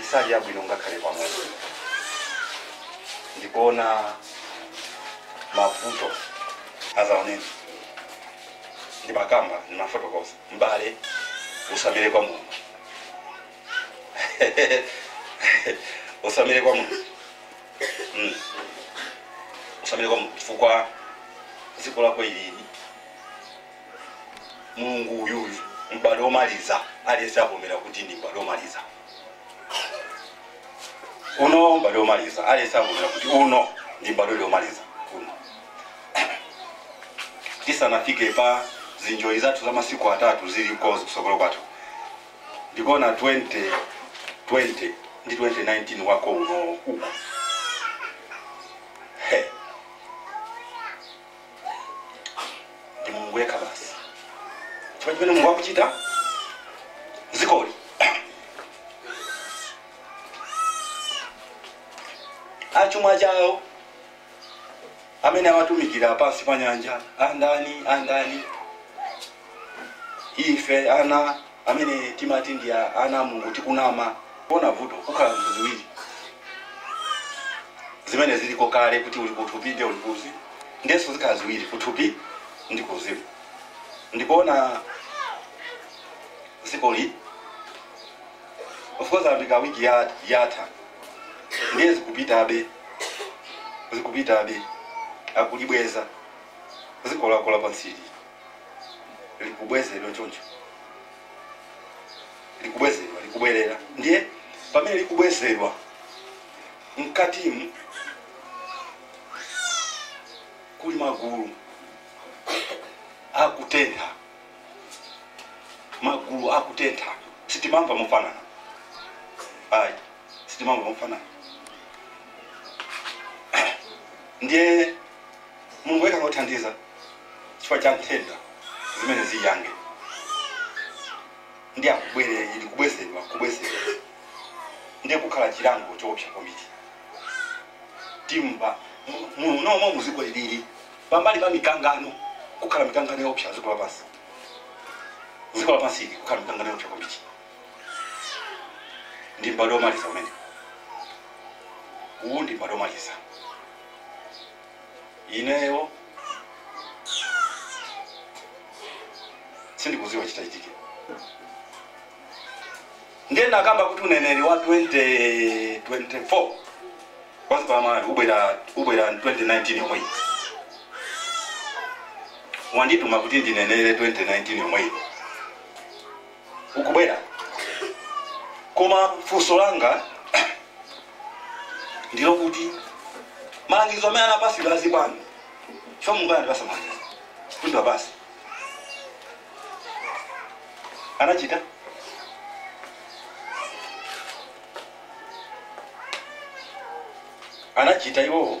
Isali yabwino ngakhale pang'ono. Ndikuona mavuto azaneneri ndimakamba ndimafotokoza m'bale usamire kwa Mulungu usamire kwa Mulungu mm. usamire kwa Mulungu chifukwa dziko lako ilili Mulungu uyu uyu, m'badwo womaliza, aliyense avomera kuti ndi m'badwo womaliza. Uno m'badwo womaliza, aliyense avomera kuti uno ndi m'badwo ndi womaliza. Uno tisanafike pa zinjoli zathu za masiku atatu zili konko kusogolo kwathu ndikuona 20 20 ndi 2019 wako uno uko ndi mulungu yekha basi chifukwa chimene mulungu akuchita m'zikoli achuma chawo amene awatumikira pansi pa nyanja andani andani ife ana amene timati ndi a- ana a mulungu tikunama kuona vuto kukhala ziwiri zimene ziliko kale kuti uli kuthupi ndi uli kuuzimu ndenso zikhala ziwiri kuthupi ndi kuuzimu ndikuona m'zikoli of course ambika wiki ya- yatha ndiye zikupitabe zikupitabe akulibweza dziko lako la pansili likubwezedwa choncho likubwezedwa likubwerera ndiye pamene likubwezedwa mkatimu kuli magulu akutentha magulu akutentha sitimamva mofanana ayi sitimamva mofanana ndiye mulungu yekha ngothandiza chifukwa cha nthenda zimene ziyange ndi akubwere ili kubwezedwa kubwezedwa ndiye kukhala chilango choopsa kwambiri timva muno mmo muziko ilili pambali pa mikangano kukhala mikangano yoopsa dziko lapansi dziko lapansi kukhala mikangano yoopsa kwambiri ndi m'badwo womaliza umene uwu ndi m'badwo womaliza ineyo sindikuziwa chitachitike ndiye ndakamba kuti uneneri wa 2024 pansi pa amalawi ubwera ubwera 2019 yomweyi wandituma kuti ndinenere 2019 yomweyi ukubwera koma funso langa ndilo kuti malangizo amene anapasidwa azibwana chifukwa Mulungu anatipasa malangizo kuti basi anachita anachita iwowo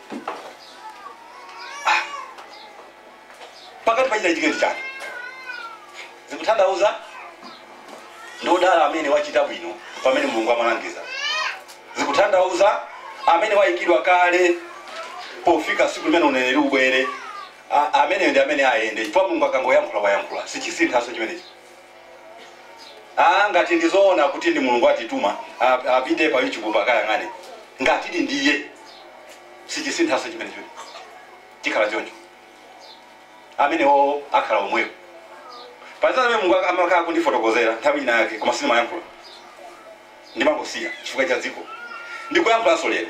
Ah. pakati pa chinachitika ndi chani zikutanthauza ndi odala amene wachita bwino pamene mulungu amalangiza zikutanthauza amene wayikidwa kale pofika siku limene uneneri ubwere A- ameneyo ndi amene ayende chifukwa mulungu akangoyankhula wayankhula sichisinthanso chimenechi Aaa ngati ndizoona kuti ndi mulungu atituma ap- apite pa youtube akayang'ane ngatidi ndiye sichisinthaso chimenecho chikhala choncho amenewo akhala omwewo pazina amene mulungu ak- amakhala kundifotokozera nthawi ina yake koma sindimayankhula ndimangosiya chifukwa cha dziko ndikuyankhulanso lero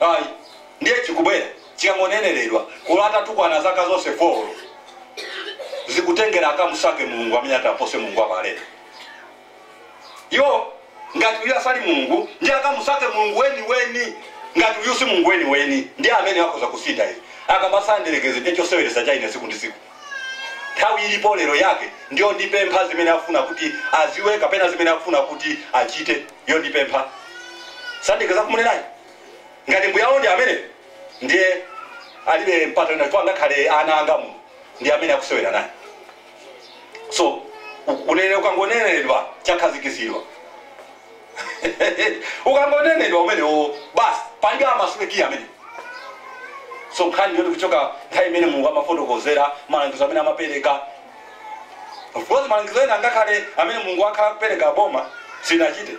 Ayi, ndiye chikubwera chikangoneneredwa olo atatukwana zaka zonse 4 olo zikutengera akamusake Mulungu amene ati apose Mulungu wa Baleka yo ngati uyu asali Mulungu ndiye akamusake Mulungu weni weni ngati uyu si Mulungu weni weni ndiye amene akhoza kusintha izi akabasa mdierekezi ndiye choseweretsa cha ine tsiku ndi tsiku nthawi ilipo lero yake ndiyo ndipempha zimene akufuna kuti aziwe kapena zimene akufuna kuti achite yondipempha sandika zakumunenayi ngati mbuyawo ndi amene ndiye alibe mpata wina chifukwa ngakhale ana anga Mulungu ndi amene akusewera naye so uneneri ukangonenedwa chakhazikizidwa ukangonenedwa umenewo basi palibe amasulekiya amene so nkhani yoti kuchoka nthawi imene mulungu amafotokozera malangizo amene amapereka Of course malangizo ena ngakhale amene Mulungu akhala kupereka boma sinachite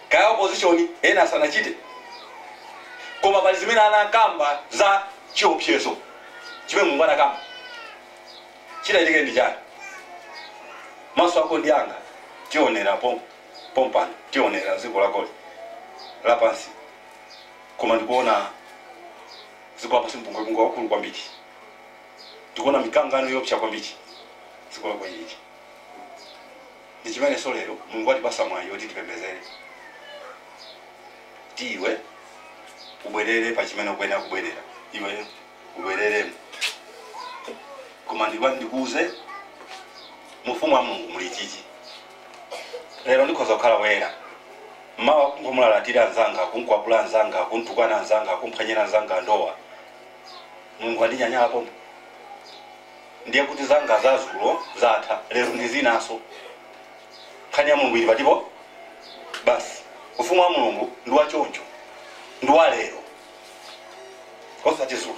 kaya opposition ena sanachite koma pali zimene anakamba za chiopsezo chimene Mulungu anakamba chitachitike ndi chani maso ako ndi anga tionera pom pompano tionera dziko lakoli lapansi koma ndikuona dziko lapansi mpungwepungwe wakulu kwambiri ndikuona mikangano yoopsa kwambiri dziko lakoli ichi ndi chimenenso lero mulungu watipasa mwayi woti tipembezere ti iwe ubwerere pa chimene ukuyenera kubwerera iwe ubwereremo koma ndikuwa ndikuuze mufumu wa mulungu muli chichi lero ndikhoza kukhala woyera mawa kungomulalatira mnzanga kunkwapula mnzanga kuntukwana mnzanga kumphwanyira mnzanga ndowa mulungu wandinyanyala pompo ndiye kuti zanga zazulo zatha lero ndi zinanso nkhani ya mulungu ili patipo basi ufumu wa mulungu ndi wachoncho ndi wa lero osati zulo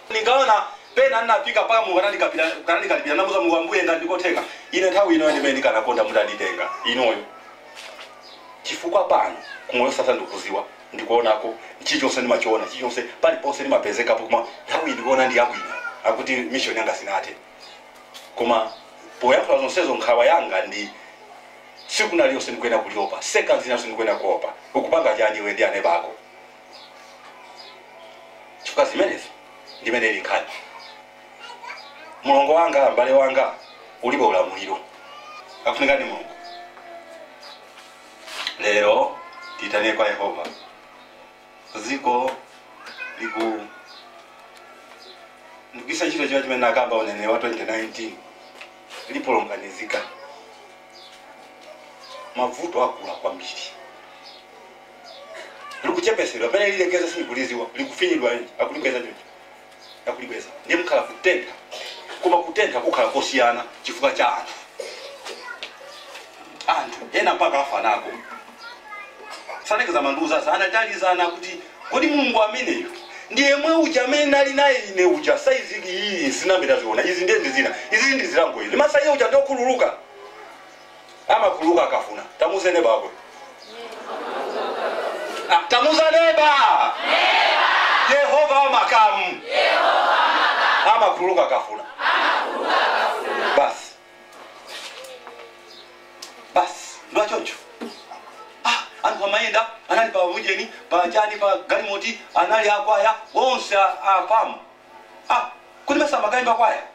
ndikaona pena ndinafika mpaka mulungu anandikapira- anandikalipira namuza mulungu ambuye ngati ndikotheka ine nthawi ino ndimene ndikanakonda mutanditenga ineyo chifukwa pano kumoyo wosatha ndikuziwa ndikuonako chilichonse ndimachiona chilichonse paliponse ndimapezekapo koma nthawi iyi ndikuona ndi yabwino akuti mission yanga sinathe koma poyankhula zonsezo nkhawa yanga ndi tsiku lina lililonse ndikuyenera kuliopa seconds ina iliyonse ndikuyenera kuopa ukupanga chani iwe ndi aneba ako chifukwa zimenezo ndimene zili nkhani mulongo wanga mbale wanga ulibe ulamuliro akufunika ndi mulungu lero titani kwa yehova dziko liku ndikuyisa ntchito chimene chimene anakamba uneneri wa 2019 lisokonezeka mavuto akula kwambiri likuchepesedwa pamene lilekeze silikuliziwa likufinyidwa akulibweza chocho akulibweza ndiye mukhala kutentha koma kutentha kukhala kosiyana chifukwa cha anthu anthu ena mpaka afa nako saneneza mandiuza sanatalizana kuti kodi mulungu ameneyo ndi yemwe uja amene nali naye ine uja size iyi sinayambe yaziona izi ndiye ndizina izi ndi zilango izi mesa iye uja ndokhululuka amakhululuka akafuna. Tamuuze neba wako. Ah, tamuuza neba. Yehova wa makamu amakhululuka akafuna. Basi basi ndo wachoncho. Ah, anthu amayenda anali pa ujeni pa chani pa galimoti anali akwaya onse a- apa mu ah, kuti mesa amakaimba kwaya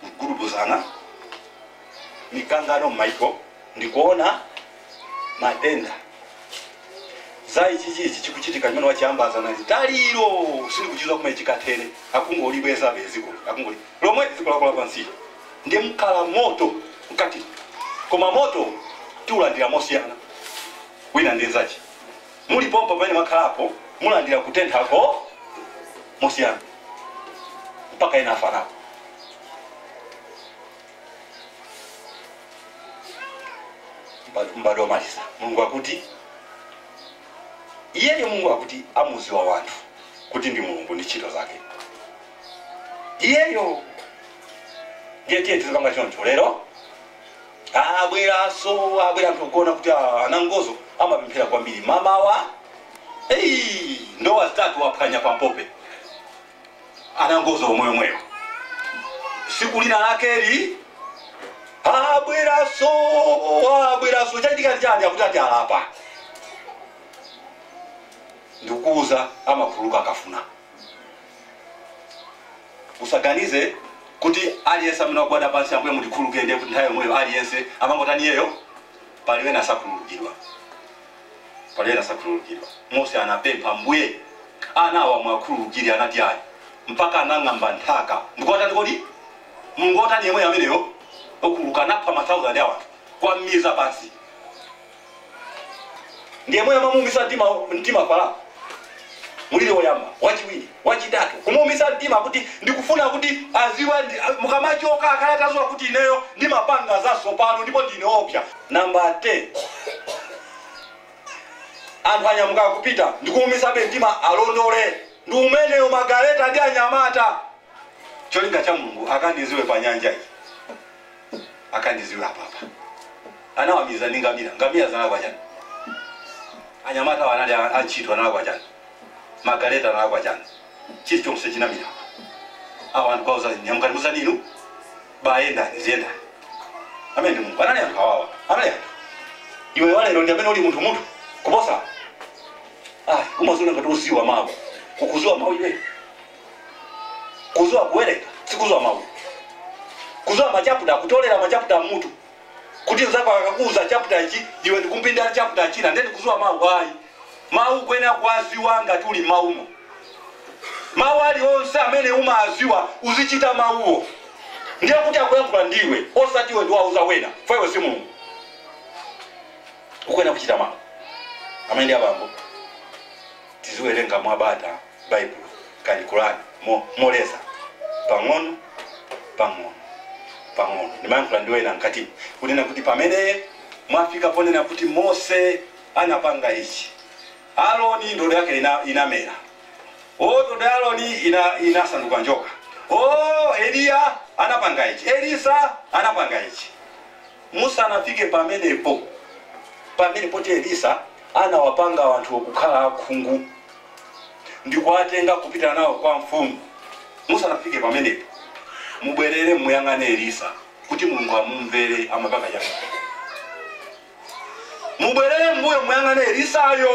kugudubuzana, mikangano m'maiko ndi kuona matenda zayi chichi ichi chikuchitika chimene wachiyambitsa nalitaliro sindikuchidziwa kumene chikathere akungolibwezabe dziko akungoli lomwe dziko lako lapansi ndi mkhala moto mkati koma moto tiulandira mosiyana wina ndi nzachi Muli pompo pamene mwakhalapo, mulandira kutenthako mosiyana, mpaka ena afa nako. M'badwo m'badwo womaliza, Mulungu akuti, Iyeyo Mulungu akuti amudziwe wanthu kuti ndi Mulungu ndi ntchito zake. Iyeyo ndiye tiye tizipanga choncho lero abweraso abwera anthu okona kuti ah, anangozo amapemphera kwambiri mamawa hey, ndowa zitatu waphwanya pampope anangozo omweyomweyo siku lina lakeli abweraso abweraso chachitika chani akuti ati alapa ndikukuuza amakhululuka akafuna usaganize kuti aliyense amene wagwada pansi ambuye mutikhululukire ndiye kuti nthawi yomweyo aliyense amangotani iyeyo palibe nasakhululukidwa palibe nasakhululukidwa mose anapempha mbuye ana awa muwakhululukire anati ayi mpaka anang'amba nthaka ndikuwatani kodi mulungu wotani yemweyo ameneyo okhululuka anapha ma 1000 a wanthu kuwamiza pansi ndi yemwe amamuumitsa mtima mtima Farao mulili woyamba wachiwiri wachitatu kumuumitsa mtima kuti ndikufuna kuti aziwe ndi- mukamachoka akhale ataziwa kuti ineyo ndimapanga zatsopano ndipo ndine oopsa namba 10 anthu anyamuka kupita ndikuumitsabe mtima awalondole ndi umeneyo magaleta ndi anyamata cholinga cha mulungu akandiziwe pa nyanja iyi akandiziwe apapa anawamiza ndi ngamira ngamira zinalakwa chani anyamata awo anali a- antchito analakwa chani magaleta analakwa chani chilichonse chinamira apa awo anthu kuwauza nyamukani musanu inu bayendani ziyendani amene ndi mulungu anali anthu awawa anali anthu iwe walero ndi amene uli munthu munthu kuposa ayi umaziona ngati ukuziwa mawu sukuziwa mawu iwe kuziwa kuwerenga sikuziwa mau kuziwa machaputa kutolera machaputa mmutu kuti nzako akakuuza chaputa ichi iwe ndikumpindira chaputa china ndeni kuziwa mau ayi mau ukuyenera kuwaziwa ngati uli maumo mau alionse amene umaziwa uzichita mauwo ndiye kuti akuyankhula ndiwe osati iwe ndiwauza wena poti iwe si mulungu ukuyenera kuchita mau amene ndi abambo tiziwerenga mwabata Baibulo, kani, Korani, mo, moleza, pang'ono, pang'ono, pang'ono. Ndimayankhula ndi wena mkatimo, kunena kuti pamene mwafika ponena kuti Mose anapanga ichi, Aroni ndodo yake ina, inamera, o, ndodo ya Aroni ina, inasanduka njoka, o, Eliya anapanga ichi, Elisa anapanga ichi. Musanafike pamenepo, pamene poti Elisa anawapanga anthuwo kukhala akhungu, ndikuwatenga kupita nawo kwa mfumu musanafike pamenepo mubwerere muyang'ane elisa kuti mulungu amumvere amapanga chani mubwerere mbuyo muyang'ane elisayo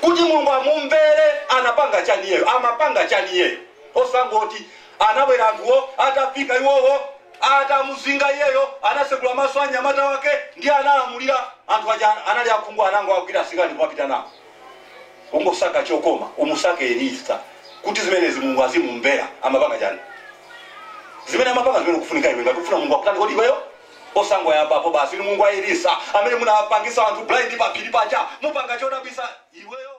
kuti mulungu amumvere anapanga chani iyeyo amapanga chani iyeyo osangoti anabwera anthuwo atafika iwowo atamuzinga iyeyo anasegula maso a nyamata wake ndiye analamulira anthu aja anali akhungu anangowagwira asikali kumapita nawo Ukasaka chokoma umusake elisa kuti zimenezi mulungu azimumvera amapanga chani zimene amapanga zimene ukufunikira iwe ngati ukufuna mulungu akutanikodi iweyo osangoyambapo basi inu mulungu wa elisa amene munapangisa anthu blind pa phiri paja mupange chodabwisa iweyo